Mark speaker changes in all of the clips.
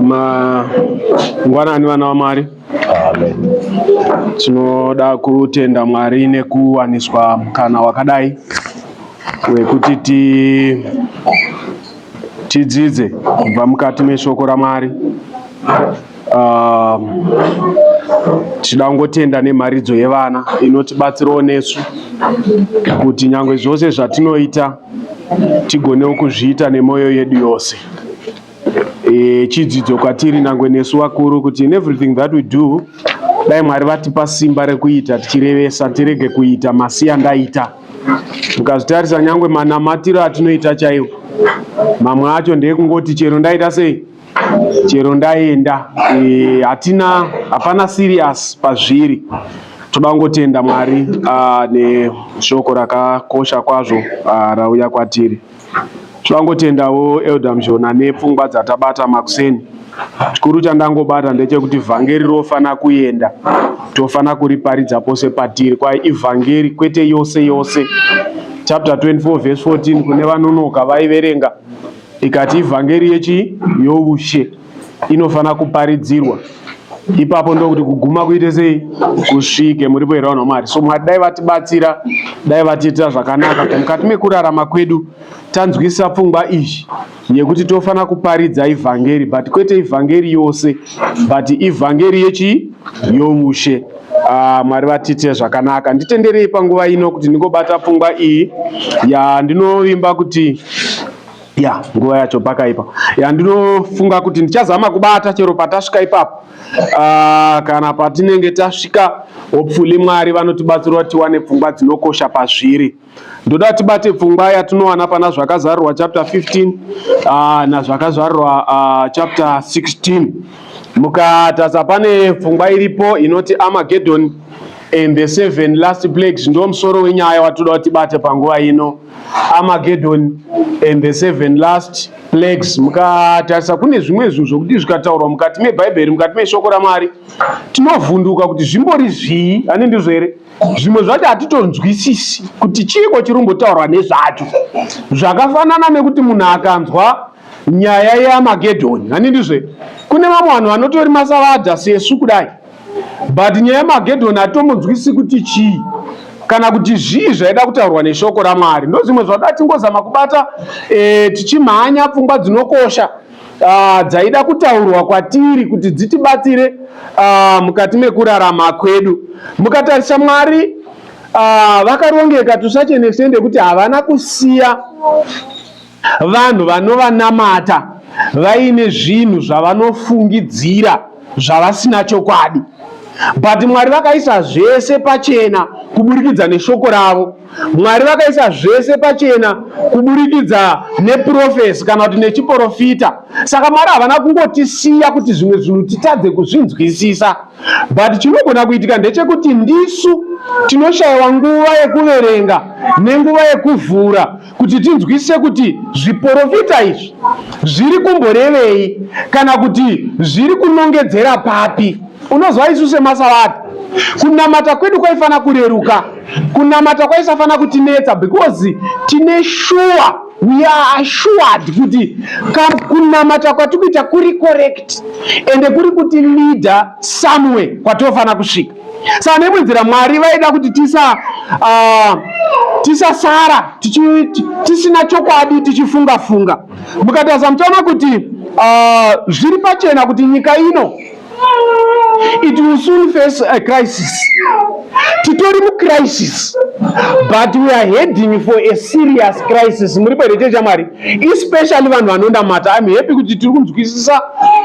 Speaker 1: mangwanani vana vamwari tinoda kutenda mwari nekuwaniswa mukana wakadai wekuti ti tidzidze kubva mukati meshoko ramwari uh, tichida kungotenda nemharidzo yevana inotibatsirawo nesu kuti nyange zvose zvatinoita tigonewo kuzviita nemwoyo yedu yose e, chidzidzo kwatiri nangwe nesu vakuru kuti in everything that we do dai mwari vatipa simba rekuita tichirevesa tirege kuita masiya ndaita mukazvitarisa nyangwe manamatiro atinoita chaiwo mamwe acho ndeekungoti chero ndaita sei chero ndaenda e, hatina hapana serious pazviri toda kungotenda mwari ah, neshoko rakakosha kwazvo ah, rauya kwatiri toda kungotendawo elder mshona nepfungwa dzatabata makuseni chikuru chandangobata ndechekuti vhangeri rofanira kuenda tofanira kuriparidza pose patiri kwai ivhangeri kwete yose yose chapter 24 vhesi 14 kune vanonoka vaiverenga Ikati ivhangeri yechii? Youshe inofanira kuparidzirwa ipapo ndokuti kuguma kuite sei kusvike muripo here vanhu vamwari so mwari dai vatibatsira dai vatiitira zvakanaka kuti mukati mekurarama kwedu tanzwisisa pfungwa izvi yekuti tofanira kuparidza ivhangeri but kwete ivhangeri yose but ivhangeri yechii youshe Ah, mwari vatiitire zvakanaka nditenderei panguva ino kuti ndingobata pfungwa iyi ya ndinovimba kuti ya nguva yacho pakaipa ya ndinofunga kuti ndichazama kubata chero patasvika ipapo Ah, kana patinenge tasvika hopefully mwari vanotibatsira kuti tiwane pfungwa dzinokosha pazviri ndoda tibate pfungwa yatinowana pana zvakazarurwa chapter 15 ah, nazvakazarurwa ah, chapter 16 mukatasa pane pfungwa iripo inoti amagedhoni and the seven last plagues ndo musoro wenyaya watoda kuti bate panguva ino amagedhoni and the seven last plagues mukatarisa kune zvimwe zvinhu zvokuti zvikataurwa mukati mebhaibheri mukati meshoko ramwari tinovhunduka kuti zvimbori zvii ane ndizvo here zvimwe zvacho hatitonzwisisi kuti chiiko chiri kumbotaurwa nezvacho zvakafanana nekuti munhu akanzwa nyaya yamagedhoni hani ndizve kune vamwe vanhu vanotori masavadha sesu kudai but nyaya yamagedhoni hatitombodzwisi kuti chii kana kuti zvii zvaida kutaurwa neshoko ramwari ndozvimwe zvada tingozama kubata e, tichimhanya pfungwa dzinokosha uh, dzaida kutaurwa kwatiri kuti dzitibatsire uh, mukati mekurarama kwedu mukatarisa mwari uh, vakarongeka to such an extent yekuti havana kusiya vanhu vanovanamata vaine zvinhu zvavanofungidzira zvavasina chokwadi but mwari vakaisa zvese pachena kuburikidza neshoko ravo Mwari vakaisa zvese pachena kuburikidza neprofesi kana kuti nechiporofita. Saka Mwari havana kungotisiya kuti zvimwe zvinhu titadze kuzvinzwisisa, but chinogona kuitika ndechekuti ndisu tinoshayiwa nguva yekuverenga nenguva yekuvhura kuti tinzwisise kuti zviporofita izvi zviri kumborevei kana kuti zviri kunongedzera papi unozwa isu semasavati kunamata kwedu kwaifanira kureruka kunamata kwaisafanira kutinetsa because tine shuwa we are assured kuti kunamata kwatiri kuita kuri correct ende kuri kuti leader somewhere kwatofanira kusvika saka neimwe nzira mwari vaida kuti tisa uh, tisasara tisina chokwadi tichifunga funga mukatarisa muchaona kuti uh, zviri pachena kuti nyika ino it will soon face a crisis titori mucrisis but we are heading for a serious crisis muri pere chee chamwari especially vanhu vanondamata im happy kuti tiri kunzwisisa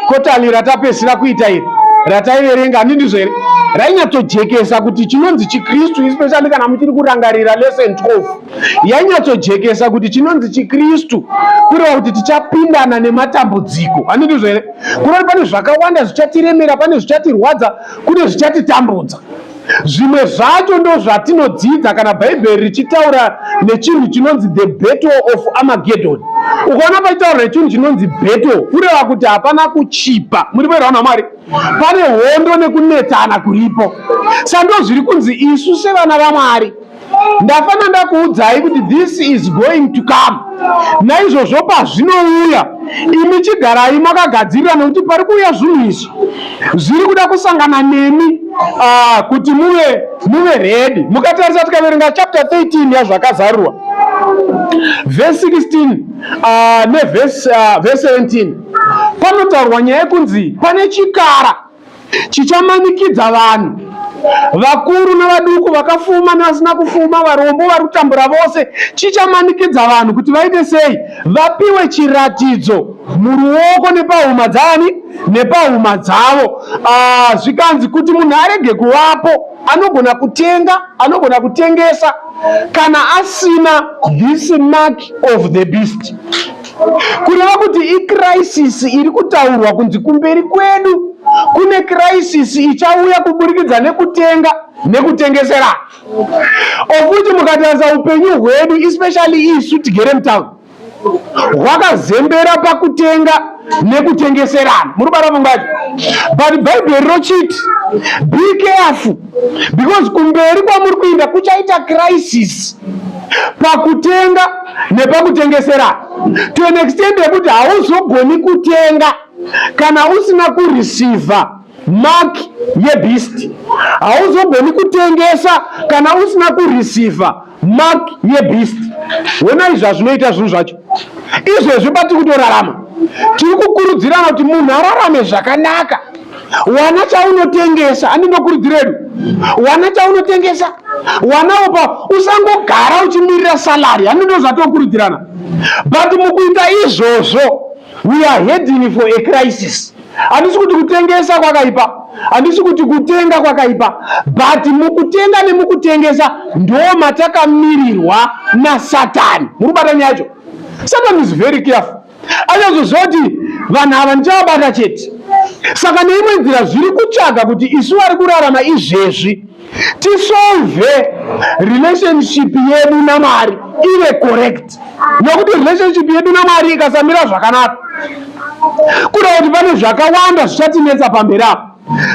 Speaker 1: kotani ratapesira kuita iri rataiverenga ani ndizvo here rainyatsojekesa kuti chinonzi chikristu especially kana muchiri kurangarira lesson 12 yainyatsojekesa kuti chinonzi chikristu kureva kuti tichapindana nematambudziko ani ndizvo here kunoti pane zvakawanda zvichatiremera pane zvichatirwadza kune zvichatitambudza zvimwe zvacho ndo zvatinodzidza kana bhaibheri richitaura nechinhu chinonzi the battle of amagedon ukaona paitaura nechinhu chinonzi battle kureva kuti hapana kuchipa muri vairwa namwari pane hondo nekunetsana kuripo sando zviri kunzi isu sevana vamwari ndafana ndakuudzai kuti this is going to come naizvozvo pazvinouya imi chigarai makagadzirira nekuti pari kuuya zvinhu izvi zviri kuda kusangana nemi uh, kuti muve muve redi mukatarisa tikaverenga chapter 13 yazvakazarurwa vhesi 16 uh, ah, nevhesi uh, ah, 17 panotaurwa nyaya yekunzi pane chikara chichamanikidza vanhu vakuru nevaduku vakafuma nevasina kufuma varombo vari kutambura vose chichamanikidza vanhu kuti vaite sei vapiwe chiratidzo muruoko nepahuma dzaani nepahuma dzavo ah, zvikanzi kuti munhu arege kuvapo anogona kutenga anogona kutengesa kana asina this mark of the beast kureva kuti ikrisis iri kutaurwa kunzi kumberi kwedu kune krisis ichauya kuburikidza nekutenga nekutengesera okuti mukatarisa upenyu hwedu especially isu tigere mutown hwakazembera pakutenga nekutengeserana muri bara vungacho but bhaibheri rochiti be careful because kumberi kwamuri kuinda kuchaita crisis pakutenga nepakutengesera to an extent yekuti hauzogoni kutenga kana usina kureceiva mark yebeast hauzogoni kutengesa kana usina kureceiva mark yebeast honai zvazvinoita zvinhu zvacho izvezvi patiri kutorarama tiri kukurudzirana kuti munhu ararame zvakanaka wana chaunotengesa ani ndokurudziro yedu wana chaunotengesa wana upa usangogara uchimirira salary ani ndozvatokurudzirana but mukuita izvozvo We are heading for a crisis. Handisi kuti kutengesa kwakaipa, handisi kuti kutenga kwakaipa, but mukutenga nemukutengesa ndo matakamirirwa naSatani. Muri kubata nyaya yacho? Satan is very careful. Anyazoziva kuti vanhu ava ndichavabata chete. Saka neimwe nzira zviri kutsvaga kuti isu vari kurarama izvezvi tisolve relationship yedu namwari ive correct nokuti relationship yedu namwari ikasamira zvakanaka kuda kuti pane zvakawanda zvichatinetsa pamberi apo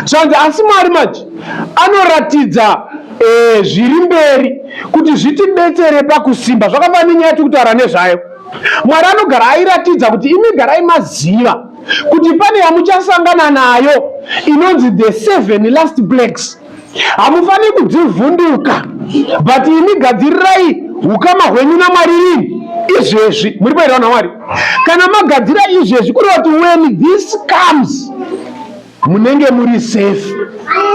Speaker 1: zvanzi asi mwari manje anoratidza eh, zviri mberi kuti zvitibetsere pakusimba zvakafanira nyaya tikutaura nezvayo mwari anogara airatidza kuti imi garai maziva kuti pane yamuchasangana nayo inonzi the seven last blacks hamufaniri kudzivhunduka but imi gadzirirai ukama hwenyu namwari rini izvezvi muri paitawo namwari kana magadzira izvezvi kureva kuti when this comes munenge muri safe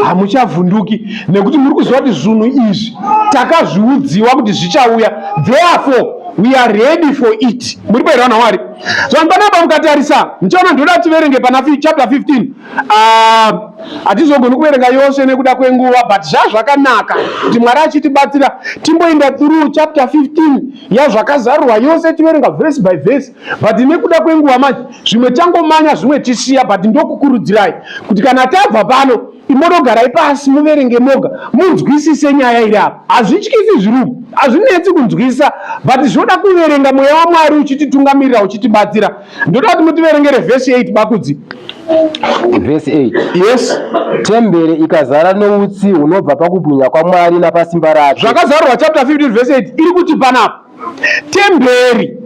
Speaker 1: hamuchavhunduki nekuti muri kuziva kuti zvinhu izvi takazviudziwa kuti zvichauya therefore we are ready for it muri kuerana wari so panapa mukatarisa ndichaona ndoda tiverenge pana chapter 15 ah, hatizogoni uh, kuverenga yose nekuda kwenguva but zvazvakanaka kuti mwari achitibatsira timboenda through chapter 15 yazvakazarurwa yose tiverenga verse by verse but nekuda kwenguva manje zvimwe changomanya zvimwe chisiya but ndokukurudzirai kuti kana tabva pano imonogarai pasi muverenge moga munzwisise nyaya iri apa hazvityisi zvirumu hazvinetsi kunzwisisa but zvinoda kuverenga mweya wamwari uchititungamirira uchitibatsira ndoda kuti mutiverengere vhesi 8 bakudzi
Speaker 2: vhesi 8 yes
Speaker 1: tembere
Speaker 2: ikazara noutsi hunobva pakubwinya kwamwari napasimba rake zvakazarwa chapter 15
Speaker 1: vhesi 8 iri kuti panapa Temberi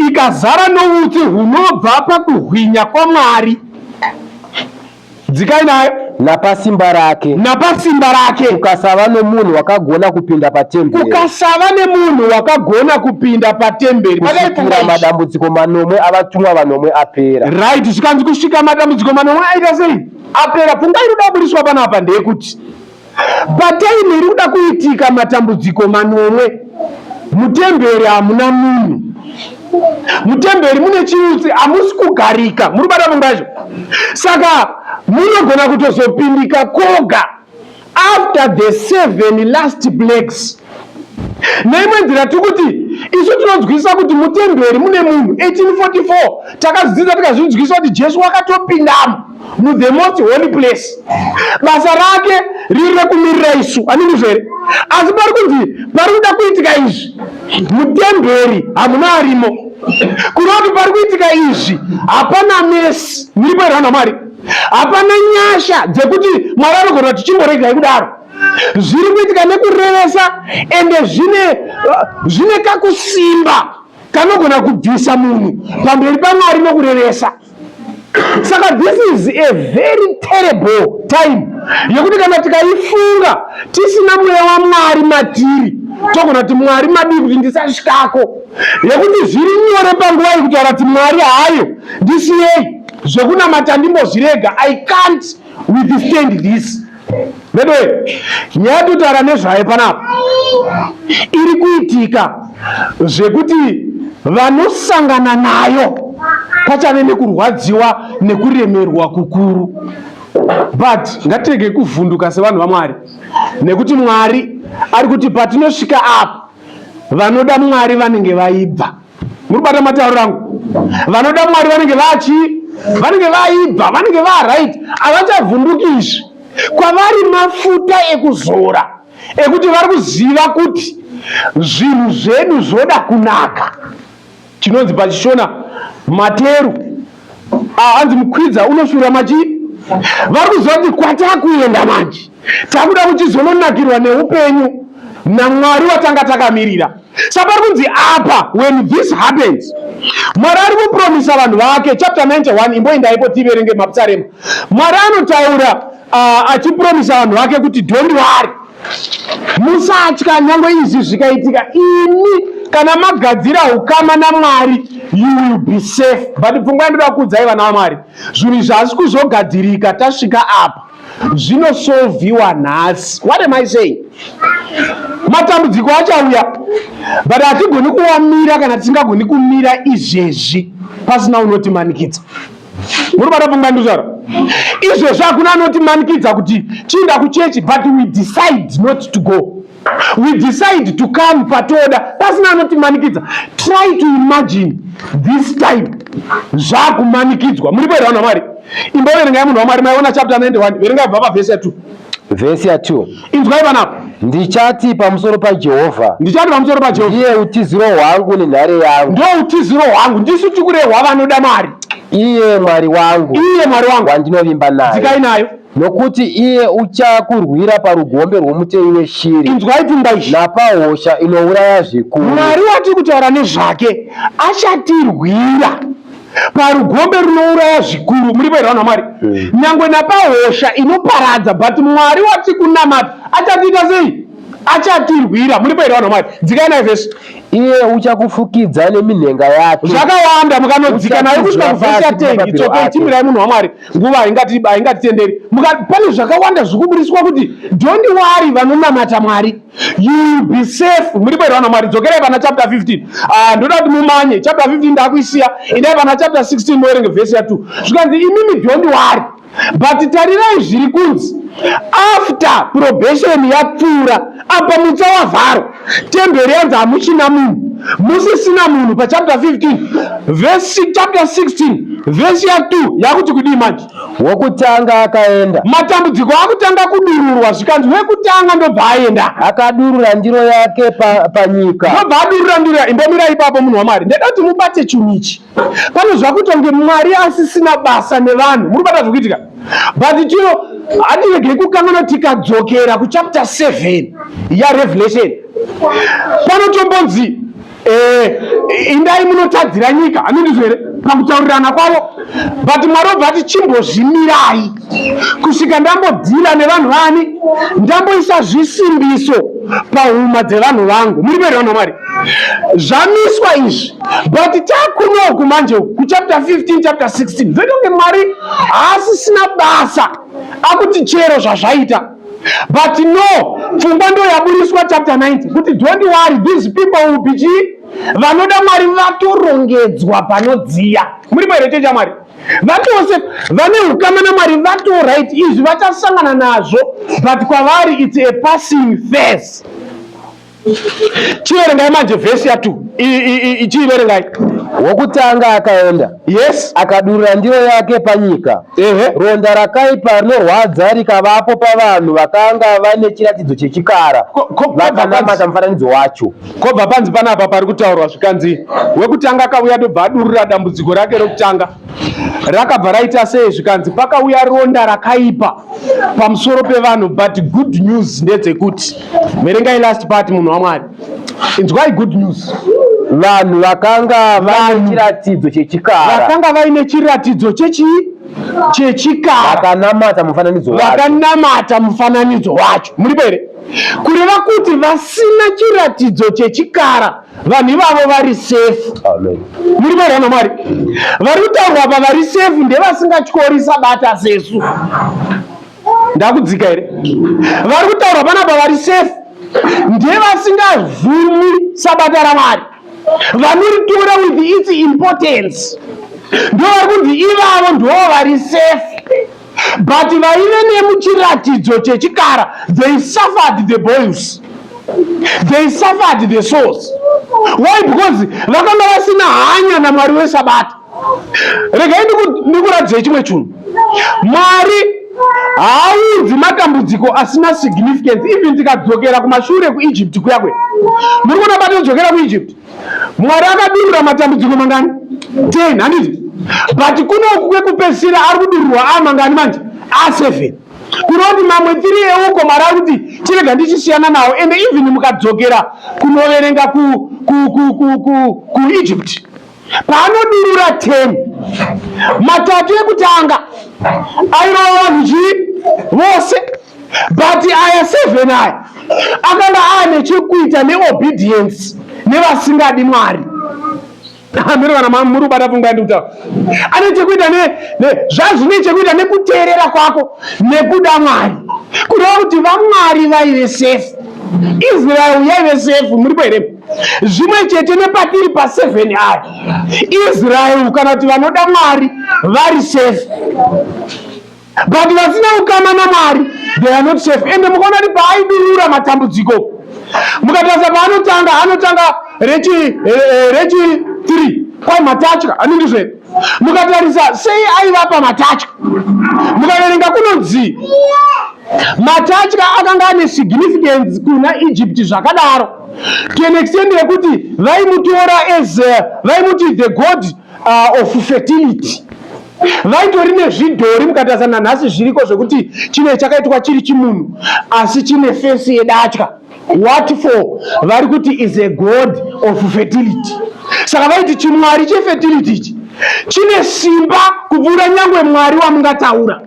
Speaker 1: ikazara noutsi hunobva pakuhwinya kwaMwari, dzikai nayo napasimba rake
Speaker 2: napasimba rake.
Speaker 1: kukasava nomunhu
Speaker 2: wakagona kupinda patemberi Kukasava nemunhu
Speaker 1: wakagona kupinda patemberi kusvikira pakaifunga ichi. madambudziko
Speaker 2: manomwe avatumwa vanomwe apera Right, zvikanzi kusvika
Speaker 1: madambudziko manomwe aita sei? Apera. Pfungwa inoda kuburitswa panapa ndeyekuti Pataimu iri kuda kuitika matambudziko manomwe, mutemberi hamuna munhu. Mutemberi mune chiutsi, hamusi kugarika. Muri kubata mumba yacho, saka munogona kutozopindika koga after the seven last plagues. Neimwe nzira tiri kuti isu tinonzwisisa kuti mutemberi mune munhu 1844 takazvidzidza tikazvinzwisisa kuti Jesu wakatopindamo. muthe most holy place basa rake riri rekumirira isu anindizvo here asi pari kunzi pari kuda kuitika izvi mutemberi hamuna arimo kunoti pari kuitika izvi hapana mesi muripo here vanhu vamwari hapana nyasha dzekuti mwari anogona kuti chimboregai kudaro zviri kuitika nekurevesa ende zvine zvine kakusimba kanogona kubvisa munhu pamberi pamwari nokurevesa saka this is a very terrible time yekuti kana tikaifunga tisina mweya wamwari matiri togona kuti mwari madii kuti ndisasvikako yekuti zviri nyore panguva yekutaura kuti mwari hayo ndisiyei zvekunamata ndimbozvirega i can't withstand this veduwe nyaya yatotara nezvayo panapa iri kuitika zvekuti vanosangana nayo pachave nekurwadziwa nekuremerwa kukuru but ngatirege kuvhunduka sevanhu vamwari nekuti mwari ari kuti patinosvika apa vanoda mwari vanenge vaibva muri bata matauriro angu vanoda mwari vanenge vachi vanenge vaibva vanenge varight havachavhunduki izvi kwavari mafuta ekuzora ekuti vari kuziva kuti zvinhu zvedu zvoda kunaka chinonzi pachishona materu Ah, hanzi mukwidza unoshura machi vari kuziva kuti kwatakuenda manje takuda kuchizononakirwa neupenyu namwari watanga takamirira sa pari kunzi apa when this happens mwari ari kupromisa vanhu vake chapter 91 imboendaipo tiverenge mapsarema mwari anotaura uh, achipromisa vanhu vake kuti don't worry Musatya nyangwe izvi zvikaitika, imi kana magadzira ukama naMwari you will be safe. But pfungwa yandoda kuudzai vana vaMwari, zvinhu izvi hazvisi kuzogadzirika tasvika apa, zvinosolviwa nhasi. What am I saying? Matambudziko achauya but hatigoni kuamira kana tisingagoni kumira izvezvi pasina unotimanikidza. muri bata pfungwa ndizvara izvezvi hakuna anoti manikidza kuti chiinda kuchechi but we decide not to go we decide to come patoda pasina anoti manikidza try to imagine this time zvakumanikidzwa muri kuerwa namwari imboverengai munhu wamwari maiona chapter 91 verengai bva pavhesi ya 2 Vhesi ya 2.
Speaker 2: Inzwai vana apa.
Speaker 1: Ndichati pamusoro
Speaker 2: paJehovha. Ndichati pamusoro paJehovha. Ndiye utiziro hwangu nenhare yangu. Ndiye utiziro hwangu.
Speaker 1: Ndisu tikurehwa vanoda mari. Iye Mwari
Speaker 2: wangu. Iye Mwari wangu. Wandinovimba naye. Dzikai nayo.
Speaker 1: Nokuti iye
Speaker 2: uchakurwira parugombe rwomuteyi weshiri. Inzwai pfungwa izvi.
Speaker 1: Napahosha inouraya
Speaker 2: zvikuru. Mwari watiri kutaura
Speaker 1: nezvake achatirwira. parugombe runouraya zvikuru muripo here vanhu vamwari hmm. nyangwe napahosha inoparadza but mwari wati kunamata achatiita sei achatirwira muripo here vanhu vamwari dzikai nayo vhesi iye
Speaker 2: uchakufukidza neminhenga yake zvakawanda mukanodzika
Speaker 1: nayo kusvika kuvhesi atengi tsoke timirai munhu wamwari nguva haingatitenderi pane zvakawanda zviri kuburitswa kuti dondi wari vanonamata mwari You will be safe. Muri bwera vana Mwari dzokerai pana chapter 15. Ah ndoda kuti mumanye chapter 15 ndakuisiya. Endai pana chapter 16 moerenge verse ya 2. Zvikanzi imimi don't worry. But tarirai zviri kunzi after probation yapfuura apa mutsa wavharo temberi yanzi hamuchina munhu musisina munhu pachapter 15 vhesi chapter 16 vhesi ya 2 yakuti kudii manje wokutanga
Speaker 2: akaenda. Matambudziko akutanga
Speaker 1: kudururwa zvikanzi wekutanga ndobva aenda. Akadurura ndiro
Speaker 2: yake pa, panyika. Ndobva adurura ndiro
Speaker 1: yake. Imbomira ipapo munhu waMwari. Ndeda kuti mubate chinhu ichi. Pane zvakuita kunge Mwari asisina basa nevanhu. Muri kubata zvokuitika. But chiro hatiregei kukanganwa tikadzokera kuchapter 7 yaRevelation. Panotombonzi Eh, indai munotadzira nyika hami ndizvo here pakutaurirana kwavo but mwari obva ati chimbozvimirai kusvika ndambodhira nevanhu vani ndamboisa zvisimbiso pahuma dzevanhu vangu muri veri vanhu vamwari zvamiswa izvi but takunoku manje kuchapter 15 chapter 16 zvoita kunge mwari haasisina basa akuti chero zvazvaita but no pfungwa ndo yaburitswa chapter 90 kuti don't worry these people will be chii vanoda mwari vatorongedzwa panodziya muripo here checha mwari vatose vane ukama namwari vatorit izvi vachasangana nazvo but kwavari its a passing face chiverengai manje vhesi ya two ichiiverengai
Speaker 2: wokutanga akaenda yes akadurura
Speaker 1: ndiro
Speaker 2: yake panyika ehe ronda rakaipa rinorwadza rikavapo pavanhu vakanga vane chiratidzo chechikara vakanamata mufananidzo wacho kobva panzi panapa
Speaker 1: pari kutaurwa zvikanzi wekutanga akauya dobva adurura dambudziko rake rokutanga rakabva raita sei zvikanzi pakauya ronda rakaipa pamusoro pevanhu but good news ndedzekuti verengai last part munhu wamwari inzwai good news vanhu
Speaker 2: vakanga vaine chiratidzo chechikara vakanga vaine
Speaker 1: chiratidzo chechii chechikara vakanamata
Speaker 2: mufananidzo wacho vakanamata
Speaker 1: mufananidzo wacho muripo here kureva kuti vasina chiratidzo chechikara vanhu ivavo vari sefu muri
Speaker 2: varana mwari
Speaker 1: vari kutaurwa apa vari sefu ndevasingatyori sabata sesu ndakudzika here vari kutaurwa panapa vari sefu ndevasingavhumi sabata ramwari vanoritora with its importance ndovari kunzi ivavo ndoo vari sefu but vaive nemuchiratidzo chechikara they suffered the boils they suffered the souls why because vakanga vasina hanya namwari wesabata regai ndikuratidzai chimwe chunhu mwari haaunzi matambudziko asina significance even tikadzokera kumashure kuegypt kuyakwe muri kuona patinodzokera kuegypt Mwari akadurura matambudziko mangani? 10 handiti? But kunoku kwekupedzisira ari kudururwa a mangani manje? A 7 kureva kuti mamwe tiri euko mari ari kuti chirega ndichisiyana nawo ende even mukadzokera kunoverenga kuegypt paanodurura 10 matatu ekutanga airova vanhu chii vose but aya seven aya akanga aane chekuita neobedience nevasingadi mwari hamiri kana mama muri kubata pfungwa yandi kutaura ane chekuita zvazvine chekuita nekuteerera kwako nekuda mwari kureva kuti vamwari vaive sefu israel yaive sefu muripo here zvimwe chete nepatiri paseven aya israel kana kuti vanoda mwari vari sefu but vasina ukama namwari they are not safe ende mukaona kuti paaidurura matambudziko mukatarisa paanotanga anotanga rechi eh, eh, rechi three kwai matatya anenge zve mukatarisa sei aivapa matatya mukaverenga kunonzi matatya akanga ane significance kuna egypt zvakadaro to an extent yekuti vaimutora as eh, vaimuti the god uh, of fertility vaitori nezvidhori mukatarisa nanhasi zviriko zvekuti chine chakaitwa chiri chimunhu asi chine fesi yedatya what for vari kuti is a god of fertility saka vaiti chimwari chefertility ichi chine simba kupfuura nyangwe mwari wamungataura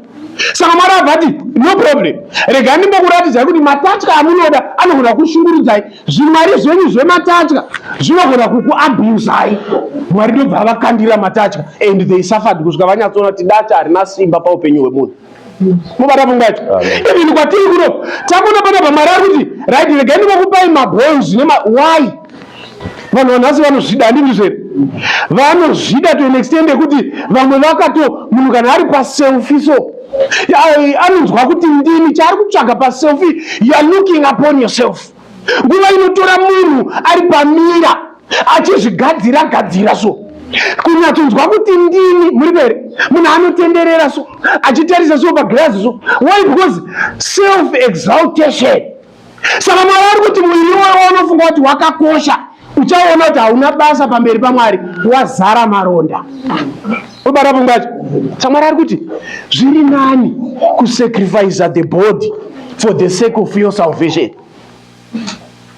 Speaker 1: saka mwari abvati no problem rega ndimbokuratidzai kuti matatya amunoda anogona kushungurudzai zvimwari zvenyu zvematatya zvinogona kukuabusai mwari ndobva vakandira matatya and they suffered kusvika vanyatsoona kuti data harina simba paupenyu hwemunhu mubata pfungwa yacho even kwatiri kuno takuona pana pamwari ari kuti right regai ndikokupai mabons nema why vanhu vanhasi vanozvida handizvo zvere vanozvida to an extend yekuti vamwe vakato munhu kana ari paselfi so anonzwa kuti ndini chaari kutsvaga paselfi youare looking upon yourself nguva inotora munhu ari pamira achizvigadzira gadzira so kunyatsonzwa kuti ndini muri pere munhu anotenderera so achitarisa so pagirazi so why because self exaltation saka mwari ari kuti muviri iwoyo unofunga kuti wakakosha uchaona kuti hauna basa pamberi pamwari wazara maronda obara pfungwa yacho samwari ari kuti zviri nani kusacrifice the body for the sake of your salvation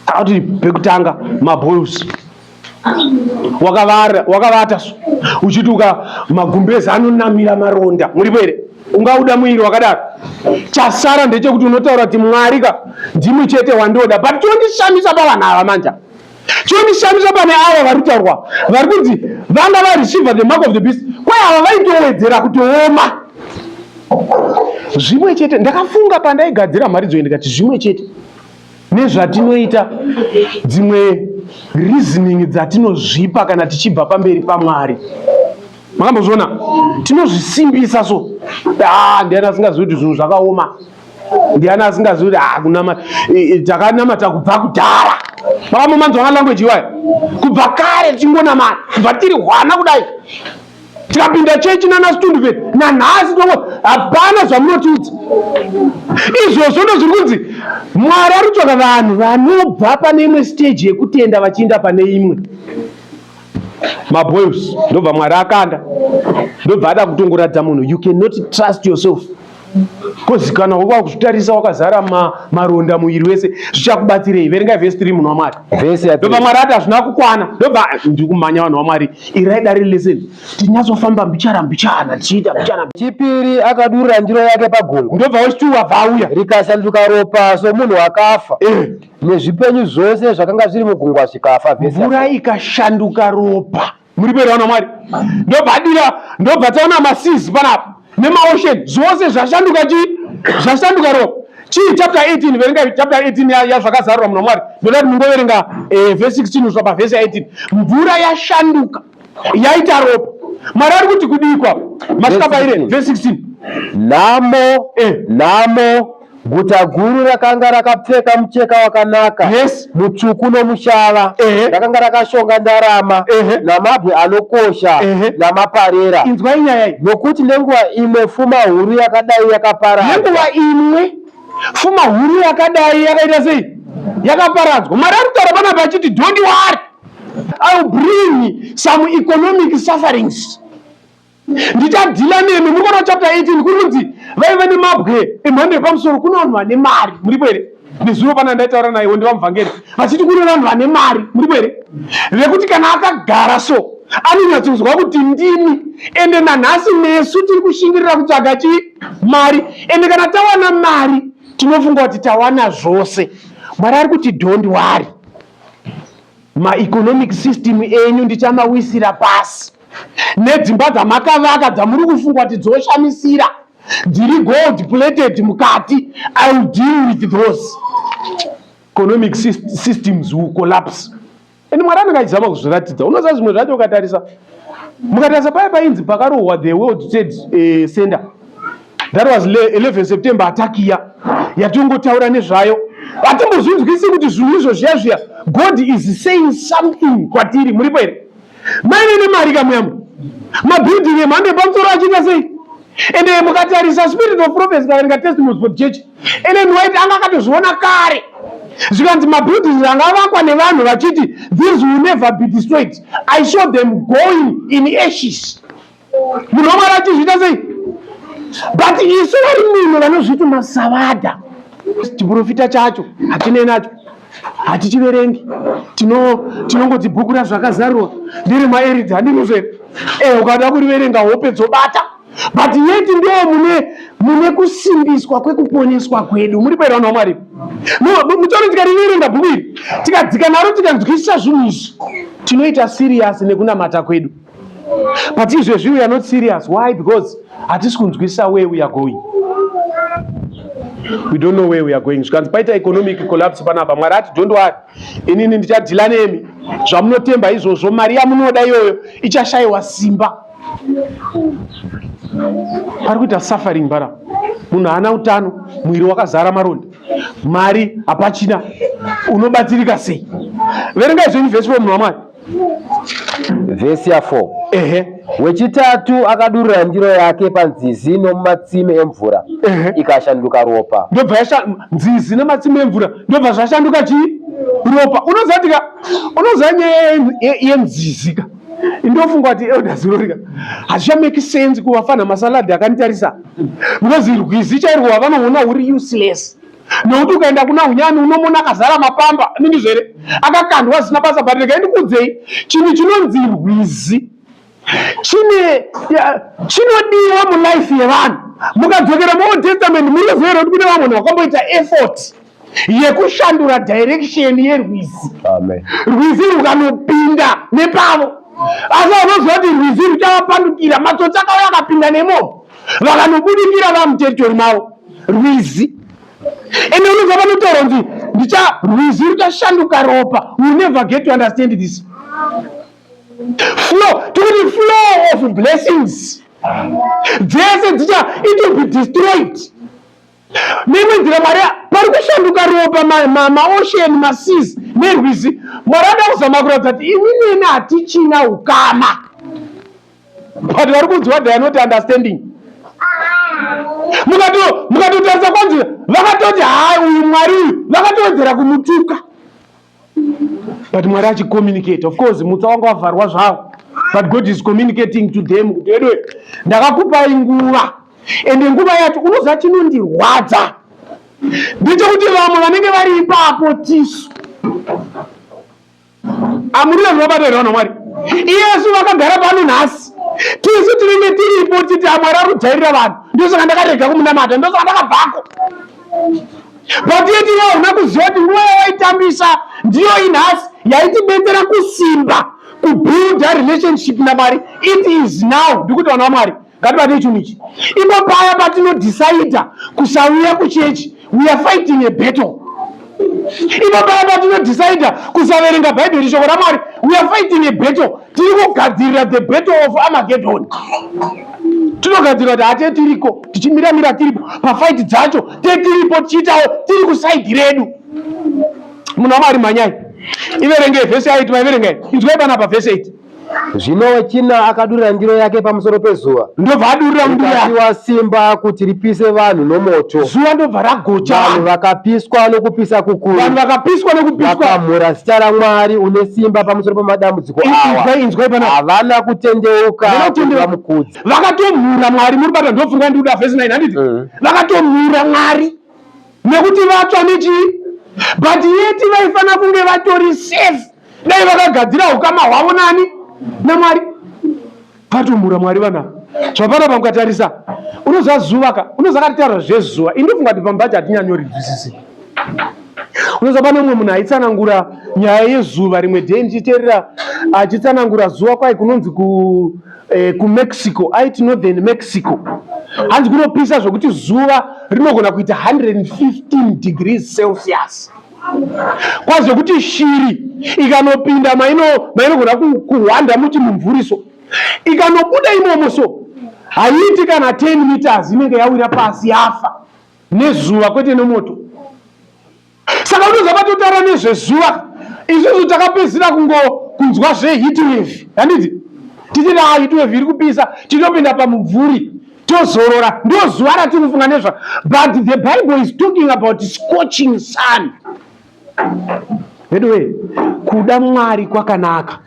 Speaker 1: akati pekutanga mabols wakavata uchiti uka magumbezi anonamira maronda muripo here ungauda muiri wakadaro chasara ndechekuti unotaura kuti mwari ka ndimwi chete wandioda but chondishamisa pavanhu ava manja chondishamisa pane ava vari kutaurwa vari kunzi vanga vareceive the mark of the beast kwaye ava vaitowedzera kutooma zvimwe chete ndakafunga pandaigadzira mharidzo ndikati zvimwe chete nezvatinoita dzimwe reasoning dzatinozvipa kana tichibva pamberi pamwari makambozviona tinozvisimbisa so ah, ndiani asingazivi kuti zvinhu zvakaoma ndiani asingazivi kuti ah, kunama takanamata kubva kudhara makamomanzwa malanguage iwayo kubva kare tichingonamata kubva tiri hwana kudai tikapinda chechi nana situndu vedi nanhasi tongo hapana zvamunotiudza izvozvo ndo zviri kunzi mwari ari kutsvaka vanhu vanobva pane imwe stage yekutenda vachiinda pane imwe maboils ndobva mwari akanda ndobva ada kutongoradza munhu you cannot trust yourself kozi kana uva kuzvitarisa wakazara maronda muviri wese zvichakubatsirei verengai vhesi tiri munhu wamwari ndobva mwari ati hazvina kukwana ndobva ndiri kumhanya vanhu wamwari irai dare lesson tinyatsofamba mbichana mbichana tichiita mbichana chipiri akadurira
Speaker 2: ndiro yake pagungu ndobva wechituwa vauya
Speaker 1: rikasanduka ropa
Speaker 2: somunhu wakafa eh. nezvipenyu zvose zvakanga zviri mugungwa zvikafa mvura ikashanduka
Speaker 1: ropa muripo raona mwari ndobva adira ndobva taona masizi panapa nemaocean zvose zvashanduka chii zvashanduka ropa chii chapter 18 verenga chapter 18 yazvakazarura munhu wamwari ndoda kuti mungoverenga eh, vhesi 16 kusvika pavhesi 18 mvura yashanduka yaita ropa mwari ari kuti kudikwa masvika paire vhesi 16 nhamo eh.
Speaker 2: nhamo Guta guru rakanga rakapfeka mucheka wakanaka yes. mutsvuku nomushava ehe. rakanga rakashonga ndarama ehe. namabwe anokosha ehe. namaparera. Inzwai nyaya iyi.
Speaker 1: Nokuti nenguva
Speaker 2: imwe fuma huru yakadai yakaparadzwa. Nenguva imwe
Speaker 1: fuma huru yakadai yakaita sei? Yakaparadzwa. Mwari ari kutaura panapa achiti don't worry I will bring some economic sufferings ndichadhila nemi muri kuona chapter 18 kuri kunzi vaive nemabwe emhando yepamusoro kune vanhu vane mari muripo here nezuro pana ndaitaura naye wondiva muvhangeri vachiti kune vanhu vane mari muripo here vekuti kana akagara so anonyatsonzwa kuti ndimi ende nanhasi nesu tiri kushingirira kutsvaga chi mari ende kana tawana mari tinofunga kuti tawana zvose mwari ari kuti don't worry maeconomic system enyu ndichamawisira pasi nedzimba dzamakavaka dzamuri kufunga kuti dzoshamisira dziri gold plated mukati i will deal with those economic systems will collapse and mwari anenge achizama kuzviratidza unoziva zvimwe zvacho ukatarisa mukatarisa paye painzi pakarohwa the world trade eh, center that was 11 september atakiya yatongotaura nezvayo hatimbozvinzwisi kuti zvinhu izvo zviya zviya god is saying something kwatiri muripo here maive nemari kamuyambo mabuilding emhando epamusoro achiita sei and eh, mukatarisa spirit of prophecy kaverenga testimonies for church ellen white anga akatozviona kare zvikanzi mabuildings anga avakwa nevanhu vachiti these will never be destroyed i saw them going in ashes munhu wamwari achizviita sei but isu vari muno vanozviti masavada chiprofita chacho hatinei nacho hatichiverengi tinongoti bhuku razvo akazarurwa ndiri maeridzi handiruzo here e eh, ukada kuriverenga hope dzobata but yeti ndo mune mune kusimbiswa kwekuponeswa kwedu muri paira vanhu vamwari mutori tikariverenga bhuku iri tikadzika naro tikanzwisisa zvinhu izvi tinoita siriyasi nekunamata kwedu but izvezvi we are not serious why because hatisi kunzwisisa where we are going we don't know where we are going zvikanzi paita economic collapse panapa mwari ati don't worry inini ndichadhila nemi zvamunotemba izvozvo mari yamunoda iyoyo ichashayiwa simba pari kuita suffering bara munhu haana utano mwiri wakazara maronda mari hapachina unobatsirika sei verengai zvenyu vese vemunhu wamwari
Speaker 2: Vhesi ya 4 Ehe. wechitatu akadurura ndiro yake panzizi nomumatsime emvura Ehe. ikashanduka ropa ndobva yasha nzizi nematsime
Speaker 1: emvura ndobva zvashanduka chii ropa unozatika unoziva nyaya ye- ye- yenzizi ka ndofunga kuti elder zirori ka hazvichameki sense kuvafanha masaladi akanditarisa because rwizi chairwo wavanoona uri useless nekuti ukaenda kuna hunyani unomona akazara mapamba anindizvo here akakandwa zvisina basa but regai ndikuudzei chinhu chinonzi rwizi chine chinodiwa mulife yevanhu mukadzokera muold testament munoziva here kuti kune vamwe vanhu vakamboita effort yekushandura direction yerwizi rwizi rukanopinda nepavo asi vanoziva kuti rwizi ruchavapandukira matsotsi akauya akapinda nemomo vakanobudikira vamuteritori mavo rwizi ende unobva vanotaura kuti ndicha rwizi ruchashanduka ropa you never get to understand this flow tikuti flow of blessings dzese dzicha it will be destroyed neimwe nzira mwari pari kushanduka ropa maosheni masizi nerwizi mwari ada kuzama kuratidza kuti imi neni hatichina ukama but vari kunzwa the not understanding mukatotarisa kwanzi vakatoti haa uyu mwari uyu vakatowedzera kumutuka but mwari achicommunicate of course mutsa wanga wavharwa zvawo but god is communicating to them kuti wedwe ndakakupai nguva ende nguva yacho unoziva chinondirwadza ndechekuti vamwe vanenge vari ipapo tisu amurira zvinobata here vanhu mwari iyesu vakagara pano nhasi tisu tinenge tiripo titi amwari ari kujairira vanhu ndosaka ndakarega kumunamata ndosaka ndakabvako Patiti iwe una kuziva kuti nguva yawaitambisa ndiyo inhasi yaitibetsera kusimba kubuilda relationship namwari it is now ndikuti vana vamwari ngatibate chinhu ichi ipo paya patinodhisaidha kusauya kuchechi we are fighting a battle ipo paya patinodhisaidha kusaverenga bhaibheri shoko ramwari we are fighting a battle tiri kugadzirira the battle of amagedhoni tinogadzirira kuti hate tiriko tichimira mira tiripo pafaiti dzacho tetiripo tichiitawo tiri kusaidhi redu munhu wamwari mhanyai iverengei vhesi yaiti maiverengei inzwai panapa vhesi yaiti zvino
Speaker 2: china akadurira ndiro yake pamusoro pezuva ndobva adurira ndiro
Speaker 1: simba
Speaker 2: kuti ripise vanhu nomoto zuva ndobva ragocha
Speaker 1: vanhu vakapiswa
Speaker 2: nokupisa kukuru vanhu vakapiswa nokupisa
Speaker 1: vakamhura Zita
Speaker 2: raMwari une simba pamusoro pamadambudziko awa. Havana kutendeuka kuti vamukudze. Vakatomhura
Speaker 1: Mwari muri bata ndofunga ndiri kuda verse 9 handiti? Mm. Vakatomhura Mwari nekuti vatsva nechii? But yet vaifanira kunge vatori safe dai vakagadzira ukama hwavo nani? NaMwari. Patumbura mwari vana zvapana pamukatarisa unoziva zuva ka unoziva katitaura zvezuva ini ndofunga kuti pamba chatinyanyori nzwisisi unoziva pane umwe munhu aitsanangura nyaya yezuva rimwe day ndichiteerera achitsanangura zuva kwai kunonzi ku, eh, kumexico aiti northern mexico hanzi kunopisa zvekuti zuva rinogona kuita 115 degrees celsius kwazo kuti shiri ikanopinda mainogona kuhwanda muti mumvuriso ikanobuda imomo so haiiti kana 10 meters inenge yawira pasi yafa nezuva kwete nemoto saka unoza patotaura nezvezuva isusu takapedzisira kungo kunzwa zvehitwave handiti tichiti ha hitwave iri kupisa titopinda pamubvuri tozorora ndozuva ratiri kufunga nezva but the bible is talking about scorching sun veduwe kuda mwari kwakanaka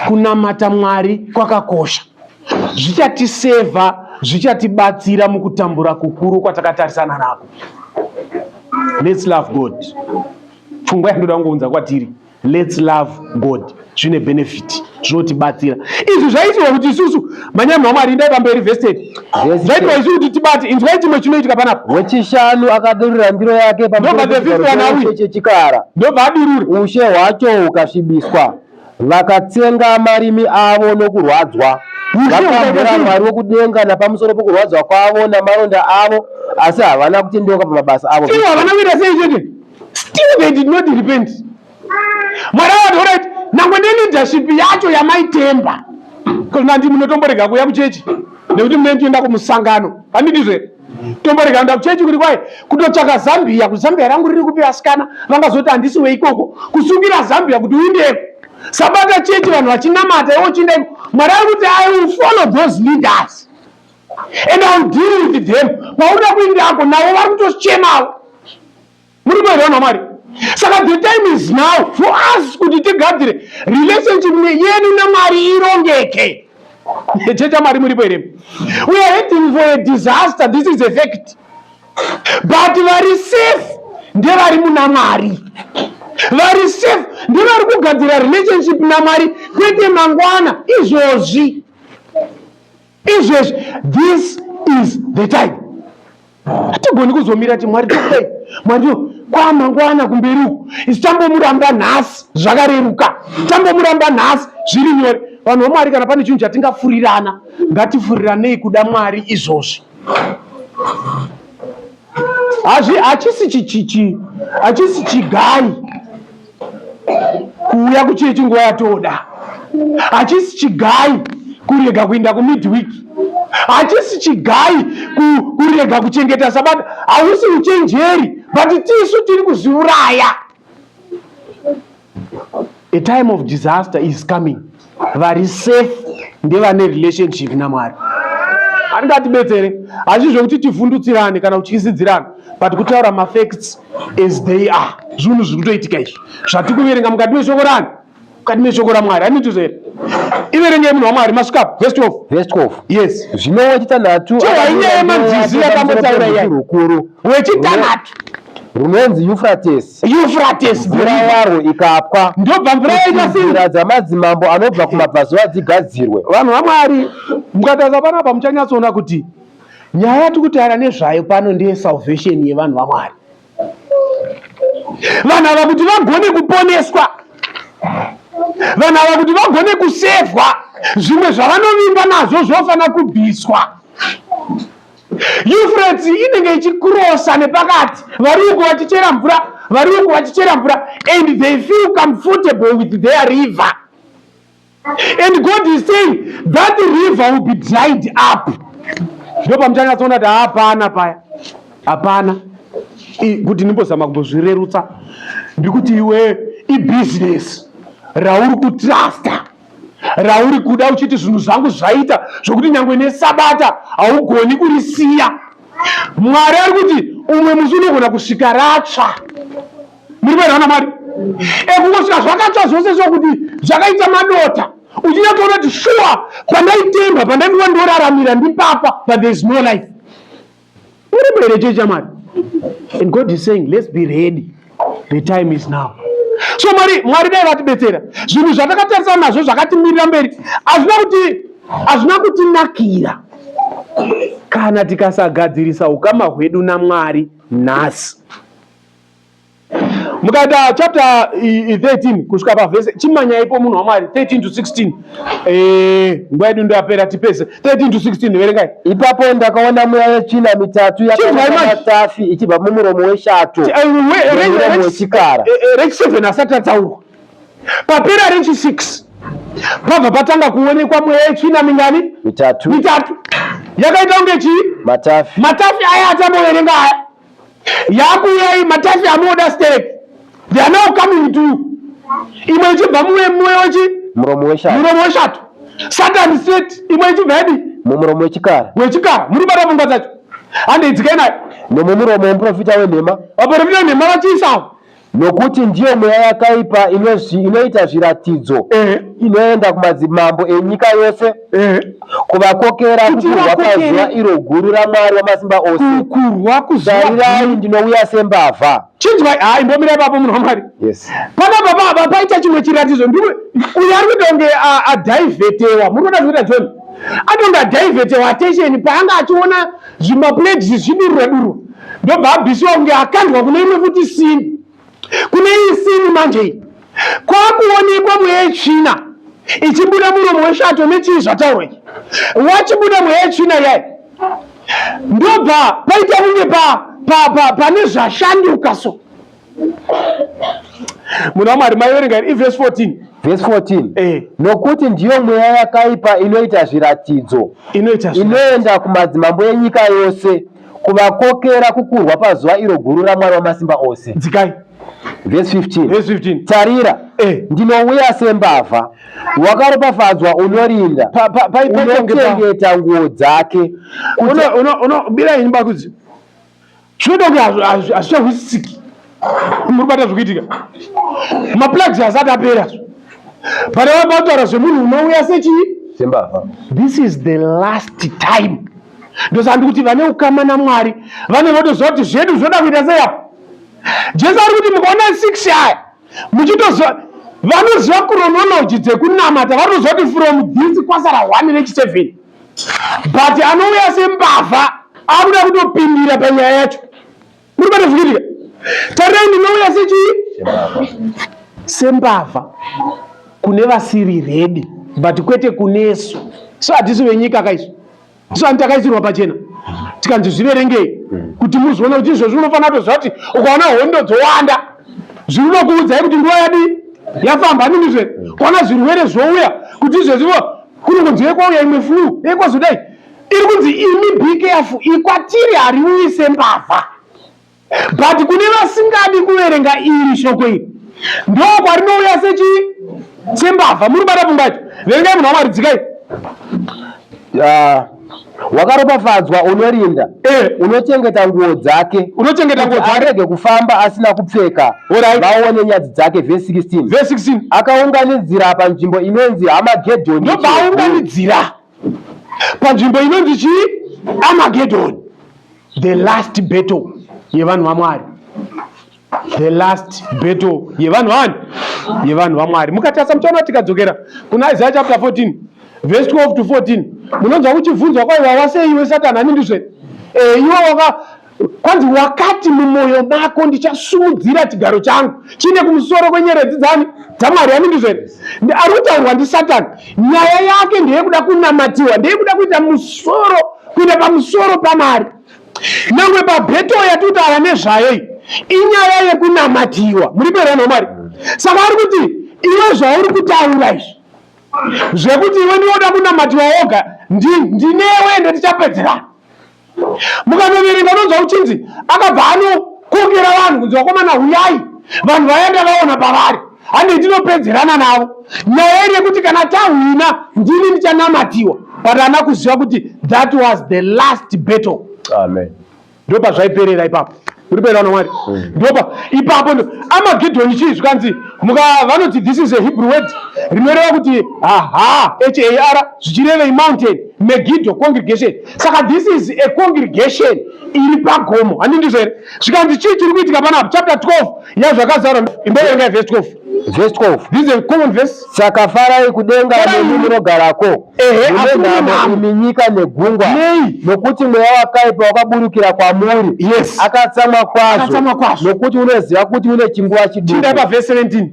Speaker 1: kunamata mwari kwakakosha zvichatisevha zvichatibatsira mukutambura kukuru kwatakatarisana nako lets love god pfungwa yandoda kungounza kwatiri Let's love God zvine benefit zvinotibatsira izvi zvaitirwa kuti isusu manyama amwari ndai pamberi vested zvaitirwa isu kuti tibate inzwai chimwe chinoitika panapa wechishanu akadurura
Speaker 2: ndiro yake pachechikara ndobva adurura
Speaker 1: ushe hwacho
Speaker 2: hukasvibiswa vakatsenga marimi avo nokurwadzwa vakambura mwari wokudenga napamusoro pokurwadzwa kwavo namaronda avo asi havana kutendeuka pamabasa avo havana kuita sei chete
Speaker 1: still they did not repent mwari awati orit nangwe neleadership yacho yamaitemba kuzonandi munotomborega kuuya kuchechi nekuti munee tienda kumusangano handidizve tomborega kuenda kuchechi kuti kwai kutotsvaka zambia kuti zambia rangu riri kupi vasikana vangazoti handisi weikoko kusungira zambia kuti uindeko sabata chechi vanhu vachinamata iwo chiindaiko mwari ari kuti i will follow those leaders and I'll deal with them paunoda kuindako navo vari kutochemawo muri kuenda vanhu vamwari saka the time is now for us kuti tigadzire relationship yenu namwari irongeke checha mari muripo here we are heading for a disaster this is a fact but vari safe ndevari muna mwari vari safe ndevari kugadzira relationship namwari kwete mangwana izvozvi izvezvi this is the time hatigoni kuzomira ti mwari tokudai mwari to kwamangwana kumberi uku isi tambomuramba nhasi zvakareruka tambomuramba nhasi zviri nyore vanhu vamwari kana pane chinhu chatingafurirana ngatifuriranei kuda mwari izvozvi hazvi hachisi chichichi hachisi chigai kuuya kuchii chinguva yatoda hachisi chigai kurega kuinda kumidweek hachisi chigai kurega kuchengeta sabata hausi uchenjeri but tisu tiri kuzviuraya a time of disaster is coming vari safe ndevane relationship namwari handingatibetsere hazvi zvekuti tivhundutsirane kana kutyisidzirana but kutaura mafacts as they are zvinhu zviri kutoitika izvi zvati kuverenga mukati meshoko rani mukati meshoko ramwari hanitizvo here iverengei munhu wamwari masvika vest of vest of yes zvinowo chitanhatu
Speaker 2: chainyaya yemanzizi
Speaker 1: yakambotaura yai
Speaker 2: wechitanato
Speaker 1: runonzi
Speaker 2: Euphrates. Euphrates mvura waro ikapwa ndobva mvura yaita
Speaker 1: sei? Nzira dzamadzimambo
Speaker 2: anobva kumabvazuva dzigadzirwe. Vanhu vaMwari
Speaker 1: mukatarisa panapa muchanyatsoona kuti nyaya yatiri kutaura nezvayo pano ndeye salvation yevanhu vaMwari. Vanhu ava kuti vagone kuponeswa, vanhu ava kuti vagone kusevhwa, zvimwe zvavanovinga nazvo zvofanira kubviswa. Euphrates inenge ichikurosa nepakati vari uko vachichera mvura vari uko vachichera mvura and they feel comfortable with their river and God is saying that river will be dried up ndo pamuchanyatsoona kuti hapana paya hapana kuti ndimbozama kumbozvirerutsa ndikuti iwe ibusiness rauri kutrusta rauri kuda uchiti zvinhu zvangu zvaita zvokuti nyange nesabata haugoni kurisiya mwari ari kuti umwe musi unogona kusvika ratsva muri vairwa namwari ekungosvika zvakatsva zvose zvokuti zvakaita madota uchinyatoona kuti shuwa pandaitemba pandaiva ndoraramira ndipapa but there is no life Muripo here church chamari? And God is saying let's be ready. The time is now. So Mwari Mwari dai vatibetsera. Zvinhu zvatakatarisa nazvo zvakatimirira mberi hazvina kuti hazvina kutinakira kana tikasagadzirisa ukama hwedu naMwari nhasi. mukaita chapter 13 kusvika pavhese chimanyaipo munhu wamwari 13 to 16 eh, nguva yedu ndoyapera tipese 13 to 16 verengai ipapo ndakaona
Speaker 2: mweya yechina mitatu yakaatafi ichibva mumuromo weshato wechikara rechi7 asati
Speaker 1: ataurwa papera rechi6 pabva patanga kuonekwa mweya yechina mingani mitatu mitatu
Speaker 2: yakaita
Speaker 1: kunge chii matafi matafi aya atamboverenga aya yakuuya iyi matafi anoda sterek they are now coming to you imwe ichibva muwe muwe wechi muromo weshato muromo
Speaker 2: weshato satan
Speaker 1: set imwe ichibva yadi mumuromo wechikara
Speaker 2: wechikara muri kubata pfungwa
Speaker 1: dzacho handeidzikai nayo nomumuromo wemuprofita
Speaker 2: wenhema vaprofita wenhema
Speaker 1: vachiisawo Nokuti ndiyo
Speaker 2: mweya yakaipa inoita zviratidzo eh. inoenda kumadzimambo enyika yose eh. kuvakokera kukurwa pazuva iro guru raMwari wamasimba ose. Kukurwa kuzuva. Tarirai ndinouya sembavha. Chinzwai, haa imbomirai
Speaker 1: papo munhu waMwari. Yes. Pana baba
Speaker 2: aba paita
Speaker 1: chimwe chiratidzo ndiwe uyo ari kutonge adhaivetewa. Muri kuda kuita John? Atonge adhaivetewa attention paanga achiona zvimaplates zvichidurura durura ndobva abhisiwa kunge akandwa kune imwe futi sini kune iyi sini manje iyi kwakuonekwa mweya yetsvina ichibuda muromo weshato nechii zvataurwa ichi wachibuda mweya yetsvina yai ndobva paita kunge pane zvashanduka so munhu wamwari maiverenga here ivhesi 14 vhesi 14
Speaker 2: eh. nokuti ndiyo mweya yakaipa inoita zviratidzo inoita inoenda kumadzimambo enyika yose kuvakokera kukurwa pazuva iro guru ramwari wamasimba ose dzikai
Speaker 1: vhesi 15
Speaker 2: vhesi 15 tarira eh.
Speaker 1: ndinouya
Speaker 2: sembavha wakaropafadzwa unorinda unochengeta nguo dzake
Speaker 1: unobirai nyumba kudzi zvinoita kuti hazvichahwisisiki muri bata zvikuitika maplugs hasati apera but vabataura zvemunhu unouya sechii sembavha
Speaker 2: this is the
Speaker 1: last time ndosandi kuti vane ukama namwari vane votoziva kuti zvedu zvinoda kuita sei apo jesu ari kuti mukaona six aya muchitoziva vanoziva kuronology dzekunamata vanoziva kuti from this kwasara one nechiseven but anouya sembavha akuda kutopindira panyaya yacho muri patozviitika tarirai ndinouya sechii sembavha kune vasiri redi but kwete kunesu so hatisi venyika kaisu so ani takaisirwa pachena tikanzi zviverengei hmm. kuti muzoona kuti izvozvi unofanira kutoziva kuti ukaona hondo dzowanda zviri unokuudzai kuti nguva yadii yafamba anini zve hmm. kwaona zvirwere zvouya kuti izvezvivo kunongonzi yeko uya imwe flu yeko zudai iri kunzi imi bkf ikwatiri hariuyi sembavha but kune vasingadi kuverenga iri shoko iri ndo kwarinouya sechi sembavha muri kubata pfungwa yacho verengai munhu wamwari dzikai
Speaker 2: Wakaropafadzwa unorinda eh. unochengeta nguo dzake unochengeta nguo dzake arege kufamba asina kupfeka right. vaone nyadzi dzake verse 16 verse 16 akaunganidzira panzvimbo inonzi Hamagedhoni ndobaunganidzira
Speaker 1: panzvimbo inonzi chii Armageddon the last battle yevanhu vaMwari the last battle yevanhu vani yevanhu vamwari mukatarisa muchaona kuti tikadzokera kuna isaya chapter 14 vhesi 12 to 14 munonzwa kuchibvunzwa kwaiva wasei iwe satani ani ndizve eh, iwe waka kwanzi wakati mumwoyo mako ndichasumudzira chigaro changu chine kumusoro kwenyeredzi dzani dzamwari ani ndizve ari kutaurwa ndisatani nyaya yake ndeyekuda kunamatiwa ndeyekuda kuita musoro kuita pamusoro pamari Nyangwe paBhetoro yatutaura nezvayo iyi inyaya yekunamatiwa. Muri kuenda vanhu vaMwari? Saka ari kuti iwe zvauri kutaura izvi zvekuti iwe ndinoda kunamatiwa woga ndinewe ende tichapedzerana. Mukanoverenga unonzwa kuchinzi akabva anokokera vanhu kunzi vakomana huyai vanhu vayanga vaona pavari. hande ndinopedzerana navo nyaya iri yekuti kana tahwina ndini ndichanamatiwa but ana kuziva kuti that was the last battle amen
Speaker 2: ndo pazvaiperera
Speaker 1: ipapo uri kuenda kuna mwari hmm. ndopa ipapo ndo amagedhoni chii zvikanzi muka vanoti this is a hebrew word rinoreva kuti aha har zvichirevei mountain megidho congregation saka this is a congregation iri pagomo handindizo here zvikanzi chii chiri kuitika panapa chapter 12 yazvakazara imboverengai vhesi 12 vhesi 12 this
Speaker 2: is common verse
Speaker 1: saka farai
Speaker 2: kudenga nemi munogarako munenhamo imi nyika negungwa nokuti mweya wakaipa wakaburukira kwamuri yes akatsamwa
Speaker 1: kwazvo
Speaker 2: nokuti unoziva kuti une chinguva chiduku chindapa vhesi 17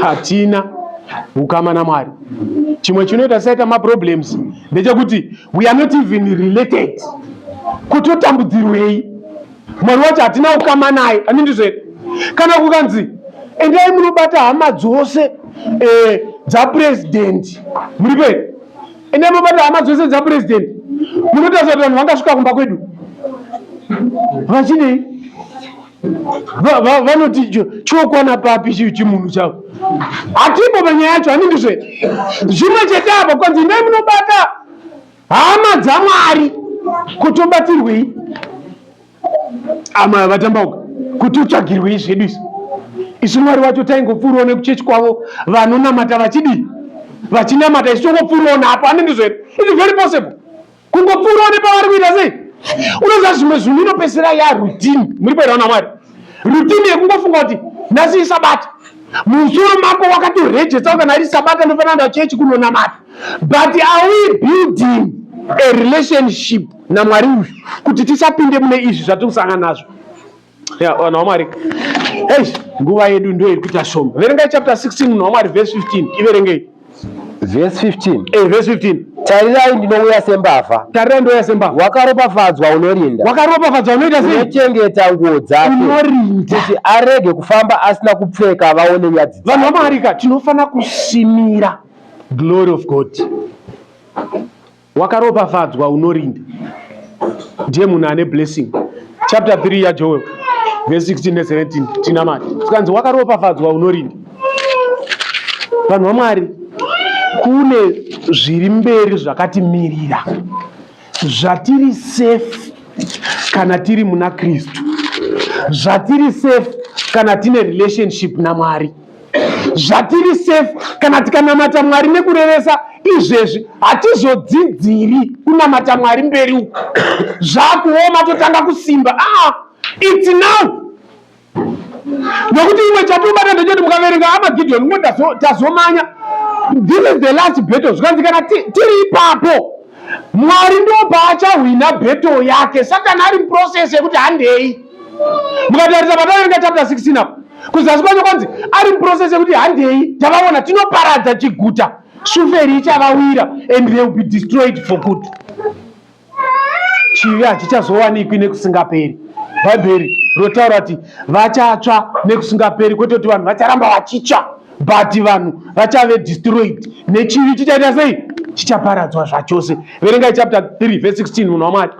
Speaker 1: hatina ukama namwari chimwe chinoita saita maproblems ndechekuti we are not even related kuti utambudzirwei mwari wacho hatina ukama naye ani ndizvo here kana kukanzi endai munobata hama dzose eh, dzapurezidendi muri pei endai munobata hama dzose dzapurezidendi munotaza kuti vanhu vangasvika kumba kwedu vachinei vanoti chokwana papi chii chimunhu chavo hatipo panyaya yacho hanindi zve zvimwe chete apa kwanzi imai munobata hama dzamwari kutobatsirwei amaya vatambauka kuti utsvagirwei zvedu isu isu mwari wacho taingopfuurawo nekuchechi kwavo vanonamata vachidii vachinamata isu tongopfuurawo napo hanindi zvedu its very possible kungopfuura une pavari kuita sei unoziva zvimwe zvinhu inopedzisira ya rutini muri paita kuna mwari rutini yekungofunga kuti nhasi isabata musoro mako wakatorejetsa kana ari sabata ndofanira nda chechi kunonamata but are we building a relationship namwari uyu kuti tisapinde mune izvi zvatiri kusangana nazvo ya vanhu vamwari eish nguva yedu ndiyo iri kuita shoma verengai chapter 16 munhu wamwari verse 15 iverengei
Speaker 2: verse 15 eh verse 15
Speaker 1: tarirai ndinouya
Speaker 2: sembavha tarirai ndouya sembavha
Speaker 1: wakaropafadzwa
Speaker 2: unorinda wakaropafadzwa unoita sei
Speaker 1: unochengeta nguo
Speaker 2: dzake unorinda kuti
Speaker 1: arege
Speaker 2: kufamba asina kupfeka vaone nyadzi vanhu vamwari ka tinofanira
Speaker 1: kusimira glory of god Wakaropafadzwa unorinda ndiye munhu ane blessing. Chapter 3 yaJoel verse 16 ne 17 tinamati tikanzi wakaropafadzwa unorinda. Vanhu vaMwari, kune zviri mberi zvakatimirira zvatiri safe kana tiri muna Kristu, zvatiri safe kana tine relationship naMwari. zvatiri safe kana tikanamata mwari nekurevesa izvezvi hatizodzidziri kunamata mwari mberi uku zvakuoma totanga kusimba ah, its now nokuti imwe chatobata ndechoti mukaverenga amagideon ngo tazomanya this is the last battle zvikanzi kana tiri ipapo Mwari ndo paachahwina battle yake. Satani ari muprocess yekuti handei. Mukatarisa pataverenga chapter 16 apo kuzasi kwacho kwanzi ari muprocess yekuti handei tavaona tinoparadza chiguta shuferi ichavawira and they will be destroyed for good. Chivi hachichazowanikwi nekusingaperi. Bhaibheri rotaura kuti vachatsva nekusingaperi kwete kuti vanhu vacharamba vachitsva. but vanhu vachave destroyed nechivi chichaita sei chichaparadzwa zvachose verengai chapter 3 verse 16 munhu wamwari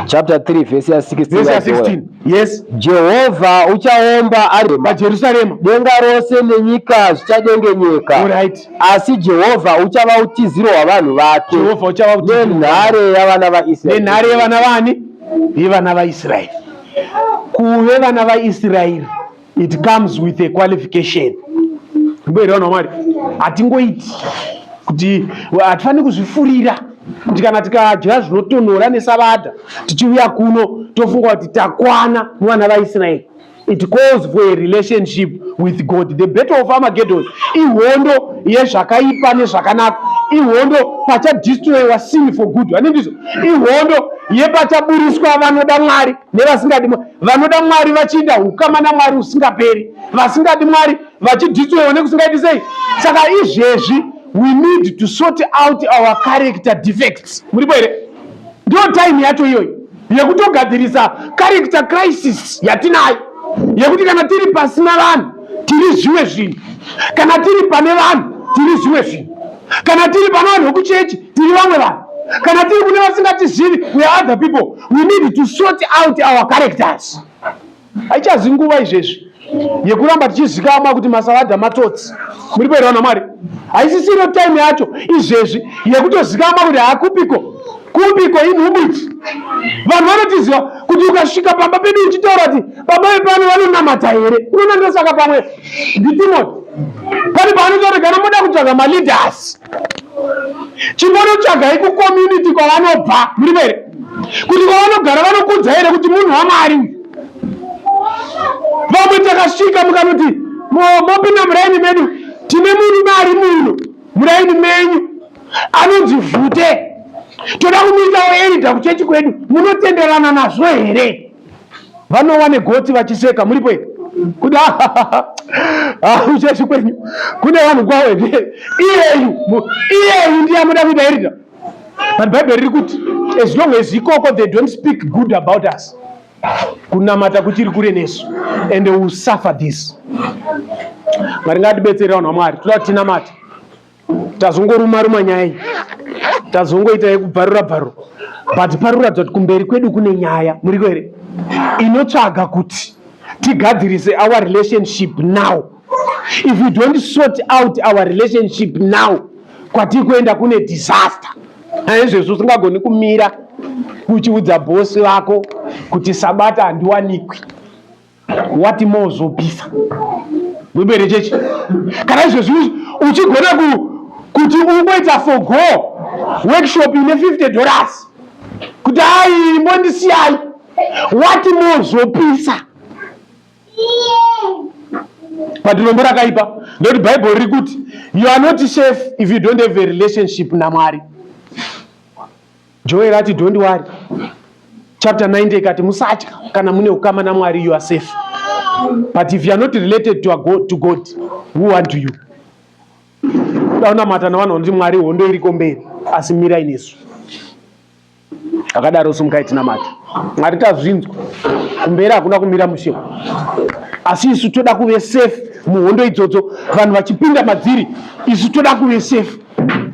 Speaker 1: chapter 3
Speaker 2: verse ya 16 yes
Speaker 1: jehovha
Speaker 2: uchaomba ari pajerusarema denga
Speaker 1: rose
Speaker 2: nenyika zvichadengenyeka right. asi
Speaker 1: jehovha
Speaker 2: uchava utiziro hwavanhu vake jehovha uchava
Speaker 1: nenhare yavana
Speaker 2: vaisraeri nenhare yevana vani
Speaker 1: yevana vaisraeri kuve vana vaisraeri it comes with a qualification mboere vanhu vamwari hatingoiti kuti hatifaniri kuzvifurira kuti kana tikadya zvinotonhora nesabata tichiuya kuno tofunga kuti takwana muvana vaisraeri it calls for a relationship with god the battle of armageddon ihondo yezvakaipa nezvakanaka ihondo pachadistroyiwa sin for good vane ndizvo ihondo yepachaburitswa vanoda mwari nevasingadi vanoda mwari vachiita ukama namwari usingaperi vasingadi mwari vachidhitwewo nekusingaiti sei saka izvezvi we need to sort out our character defects muripo here ndiyo time yacho iyoyi yekutogadzirisa character crisis yatinayo yekuti kana tiri pasina vanhu tiri zvimwe zvinhu kana tiri pane vanhu tiri zvimwe zvinhu kana tiri pano vanhu vekuchechi tiri vamwe vanhu kana tiri kune vasingatizivi we are other people we need to sort out our characters haichazi nguva izvezvi yekuramba tichizikamwa kuti masaladha matotsi muri kuerewa namwari haisisiro time yacho izvezvi yekutozikamwa kuti hakupiko kupiko inhubiti vanhu vanotiziva kuti ukasvika pamba pedu uchitaura kuti baba vepano vanonamata here unonandosaka pamwe nditimoti pane paanotoregana moda kutsvaga maleaders chimbonotsvagai kucommunity kwavanobva muri vere kuti kwavanogara vanokudza here kuti munhu wamwari vamwe takasvika mukanoti mopinda muraini medu tine murume ari muno muraini menyu anonzi vhute toda kumuitawo erida kuchechi kwedu munotenderana nazvo here vanowa negotsi vachiseka muripo here kuti uchechi kwenyu kune vanhu kwavo here iyeyu iyeyu ndiye amuda kuita irita but bhaibheri riri kuti as long as ikoko they don't speak good about us kunamata kuchiri kure nesu and will suffer this mwari ngatibetsere vanhu vamwari toda kuti tinamate tazongoruma ruma nyaya iyi tazongoita yekubvarura bvarura but pari kuratidza kuti kumberi kwedu kune nyaya muriko here inotsvaga kuti tigadzirise our relationship now if you don't sort out our relationship now kwatiri kuenda kune disaster aizvezvi usingagoni kumira uchiudza bhosi vako kuti sabata handiwanikwi wati mozopisa gwebe rechechi kana izvezvi uchigona kuti ungoita for go workshop ine 50 dollars kuti ai imbondisiyai wati mozopisa but rombo rakaipa nekuti bhaibheri riri kuti you are not safe if you don't have a relationship namwari Joel ati don't worry. Chapter 90 ikati musatya kana mune ukama naMwari you are safe. But if you are not related to, God, to God, who want you? Daunamata navanhu vanoti Mwari hondo iriko mberi asi mirai nesu. Akadaro sumukai tinamata. Mwari tazvinzwa. Kumberi hakuna kumira mushe. Asi isu toda kuve safe muhondo idzodzo vanhu vachipinda madziri isu toda kuve safe.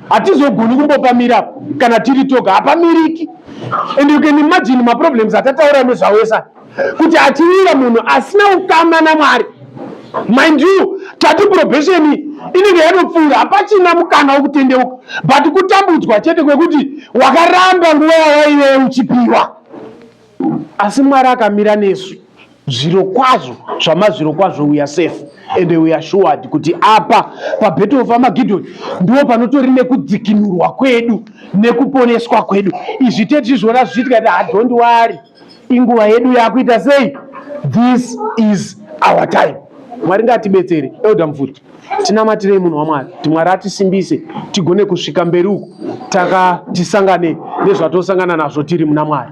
Speaker 1: hatizogoni kumbopamira apo kana tiri toga hapamiriki and you can imagine maproblems atataura nezvawo esa kuti atiwira munhu asina ukama namwari mind you tati probation inenge yanopfuura hapachina mukana wokutendeuka but kutambudzwa chete kwekuti wakaramba nguva yawaive uchipiwa asi mwari akamira nesu zviro kwazvo zvamazviro kwazvo uya safe ende uya shuwadi kuti apa pabheto of amagidhoni ndiwo panotori nekudzikinurwa kwedu nekuponeswa kwedu izvi tetizvona zvichiitika ti hadhondi wari inguva yedu yakuita sei this is our time mwari ngatibetsere elda mvuri tinamatirei munhu wamwari kuti mwari atisimbise tigone kusvika mberi uku taka tisangane nezvatosangana nazvo tiri muna mwari